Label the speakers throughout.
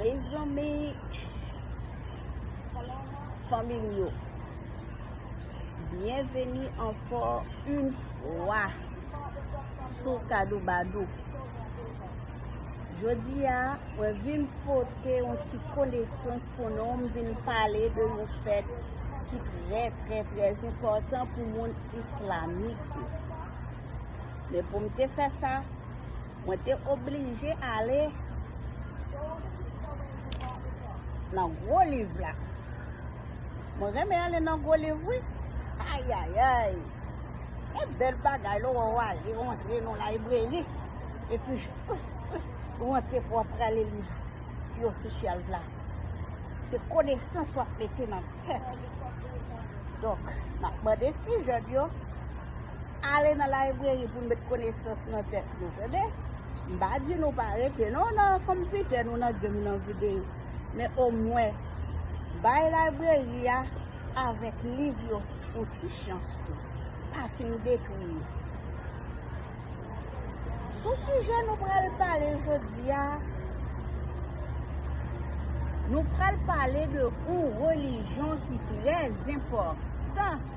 Speaker 1: Mezanmi Fanmi m yo Byenveni ankò yn fwa sou Kadoubadou Jodi a mwen vin pote yon ti konesans pou nou m vin pale de yon fèt ki trè trè trè enpòtan pou moun islamik yo men pou m te fè sa Mwen te oblije ale nan gwo liv la. Mwen renmen ale nan gwo liv wi. Ayayay! E bèl bagay lò wè ou ale ou antre nan libreri epi ou antre pou w ap prale liv yo sou shelve la. Se konesans w ap mete nan tèt ou. Donk, m ap mande ti jèn yo. Ale nan libreri pou met konesans nan tèt nou tande m pa di nou pa rete non nan konpitè nou nan gem nan videyo men omwen bay libreri a avèk liv yo yon ti chans tou pa fin detwi yo sou sijè nou pral pale jodi a nou pral pale de yon relijyon ki trè zenpòtan.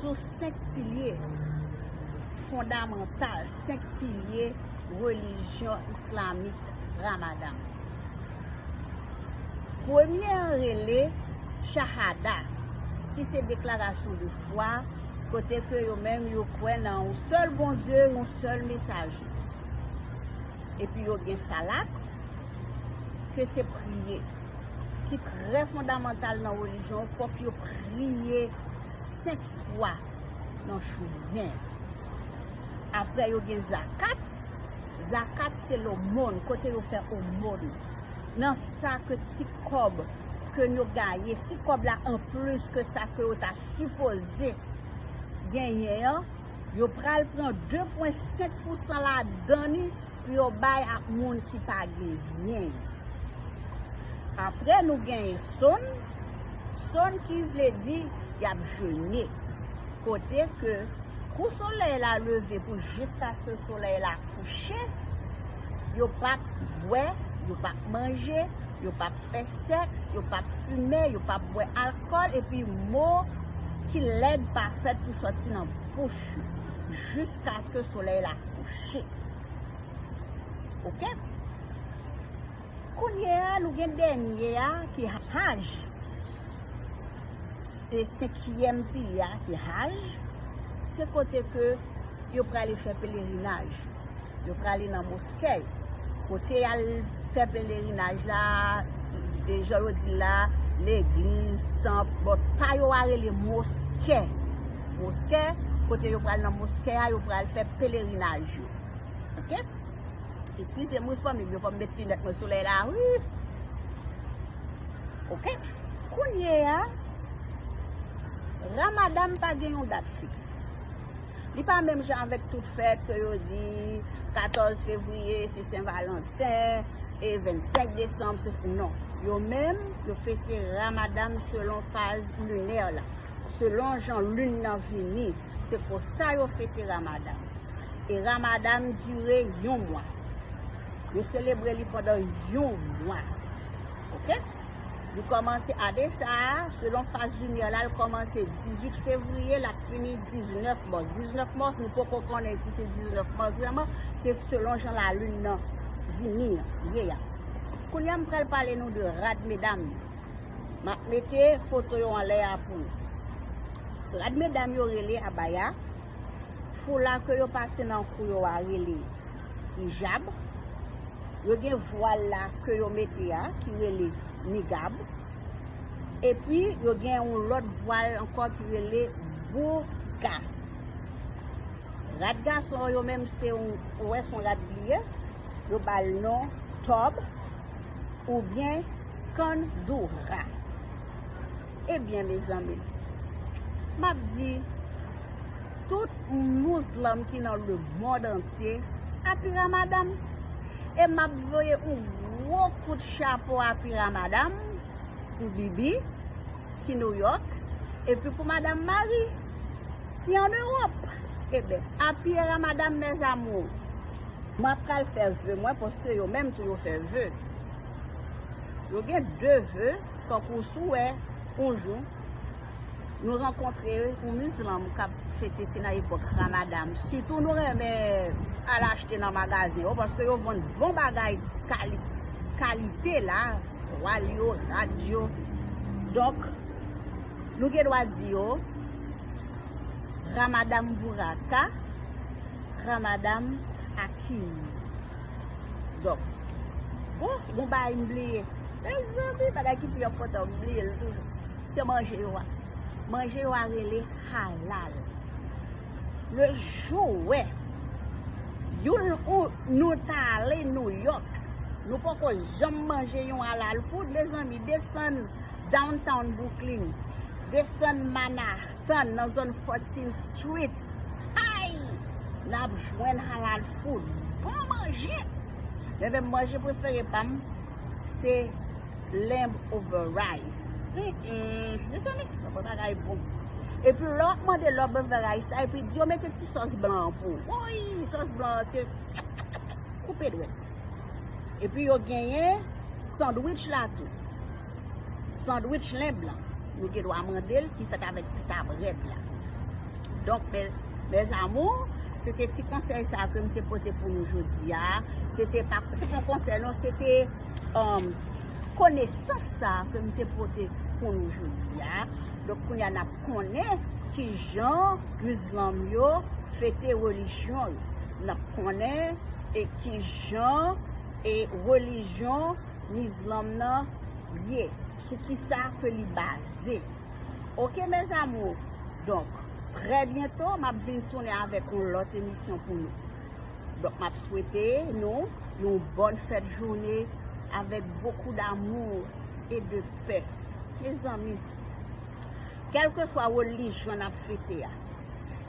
Speaker 1: sou 5 pilye fondamantal, 5 pilye relijyon islamik Ramadan. Premye an rele Chahada, ki se deklarasyon de fwa, kote ke yo menm yo kwè nan yon sèl Bondye, yon sèl Mesaje. Epi yo gen Salat, ke se priye. ki trè fondamantal nan relijyon, fòk yo priye 5 fwa nan jounen. Aprè yo gen zakat, zakat se lomon, kote yo fè omon. Nan sa ke ti kòb ke yo gaye, si kòb la an plis ke sa ke yo ta sipoze genyen an, yo pral pran 2.5 pousan ladan ni, Pou yo bay ak moun ki pa genyen yo. Apre nou genyen sonn, sonn ki vle di y ap jene, kote ke kou solèy la leve pou jiskaske solèy la kouche, yo p ap bwè, yo p ap manje, yo p ap fè sèks, yo p ap fimen, yo p ap bwè alkòl, epi mo ki lèd pa fèt pou sòti nan bouch yo jiskaske solèy la kouche. Che. Ok. Kounye a nou gen dènye a ki Haj. Se senkyèm pilye a se Haj. Se kote ke yo prale fè pelerinaj. Yo prale nan moske. Kote y al fè pelerinaj la, e jan yo di la, legliz, tanp, bon pa yo a rele moske. moskè, kote yo pral nan moskè a, yo pral fè pelerinaj yo. Ok? Eskize m wi fanmi m yo, fò m met linèt mwen solèy la wi. Ok? Kounye a, Ramadan pa gen yon dat fiks. Li pa menm jan avèk tout fèt ke yo di 14 fevriye se Sen Valanten, e 25 desanm se, non. Yo menm, yo fete Ramadan selon faz linè la. Selon jan lune nan vini, se konsa yo fete Ramadan. E Ramadan dure yon mwa. Yo selebre li pandan yon mwa. Ok? Li komanse ane sa a, selon faz lunyè la, li komanse 18 fevriye, lap fini 19 mas. 19 mas, nou poko konnen si se 19 mas vreman, se selon jan la lune nan vini an, ye a. Kounye a m pral pale nou de rad medam yo. Map mete foto yo anlè a pou nou. Rad medam yo rele abaya, foula ke yo pase nan kou yo a rele ijab, yo gen vwal la ke yo mete a ki rele nigab, epi yo gen yon lòt vwal ankò ki rele bourka. Rad gason yo menm se yon, ou wè son rad pliye, yo bal non tòb, oubyen. Can Dora Ebyen mezanmi map di tout muzlam ki nan le mond antye Happy Ramadan e map voye yon gwo kout chapo Happy Ramadan pou Bibi ki New York epi pou Madame Marie ki an Europe Ebyen Happy Ramadan mes amours. Mwen ap pral fè ve mwen paske yo menm tou yo fè ve. Yo gen de ve, tankou si w wè yon jou nou rankontre yon mizilman k ap fete, se nan epòk Ramadan, sitou nou renmen al achte nan magazen yo paske yo vann bon bagay kalite la, twal yo, rad yo. Donk, nou gen dwa di yo, Ramadan Buraka, Ramadan Akim. Dok. Bon, gon bagay m bliye. Mezanmi, bagay ki pi enpòtan m bliye l toujou. Se manje yo a. Manje yo a rele halal. Le jou ou wè, youn ou nou ta ale New York, nou poko janm manje yon halal food, mezanmi, desann downtown Brooklyn, desann Manah. Tann nan zòn Fortin Street ayy nap jwenn halal food bon manje men menm manje prefere pam se lamb over rice humm mezanmi bon bagay bon epi lè wap mande lamb over rice la epi diyo mete ti sòs blan an pou woyy sòs blan an se koupe dwèt epi yo genyen sandwich la tou. Sandwich lenb lan nou gen dwa mande l ki fèt avèk pita brèd la. Donk mes amours, se te ti konsèy sa ke m te pote pou nou jodi a. Se te pa se pa konsèy non, se te um, konesans sa ke m te pote pou nou jodi a. Donk kounya n ap konnen ki jan mizlanm yo fete relijyon yo. N ap konnen e ki jan e relijyon Mizlom nan ye sou kisa ke li baze ok mes amours donk trè byento map vin tounen avèk yon lòt emisyon pou nou donk map swete nou yon bòn fèt joune avèk bokou damou e de pè mezanmi kèlkeswa relijyon nap fete a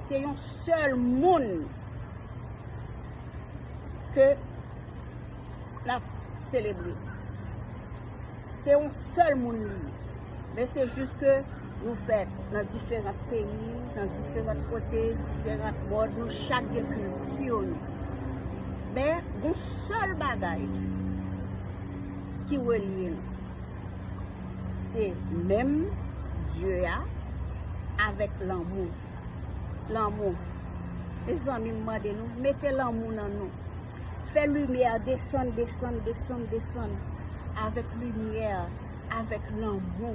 Speaker 1: se yon sèl moun ke. lap selebre. Se yon sèl moun li ye. Men se jis ke nou fèt nan diferant peyi, nan diferant kote, diferant mòd, nou chak gen kilti nou. Men, yon sèl bagay ki relye nou. Se menm Dye a avèk lanmou. Lanmou. Mezanmi m mande nou, mete lanmou nan nou. Fè limyè desann desann desann desann Avèk limyè avèk lanmou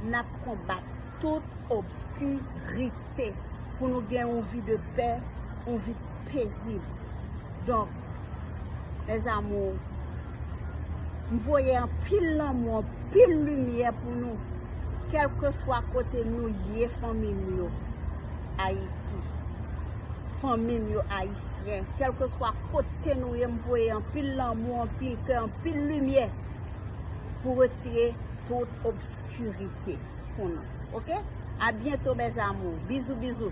Speaker 1: N ap konbat tout obski rite Pou nou gen yon vi de pè yon vi pezib Donk mes amours M voye anpil lanmou anpil limyè pou nou Kèlkeswa kote nou ye fanmi m yo Ayiti Fanmi m yo Ayisyen. Frè, kèlkeswa kote nou ye m voye anpil lanmou, anpil kè, anpil limyè pou retire tout obskurite pou nou ok a byento mes amours bizou bizou.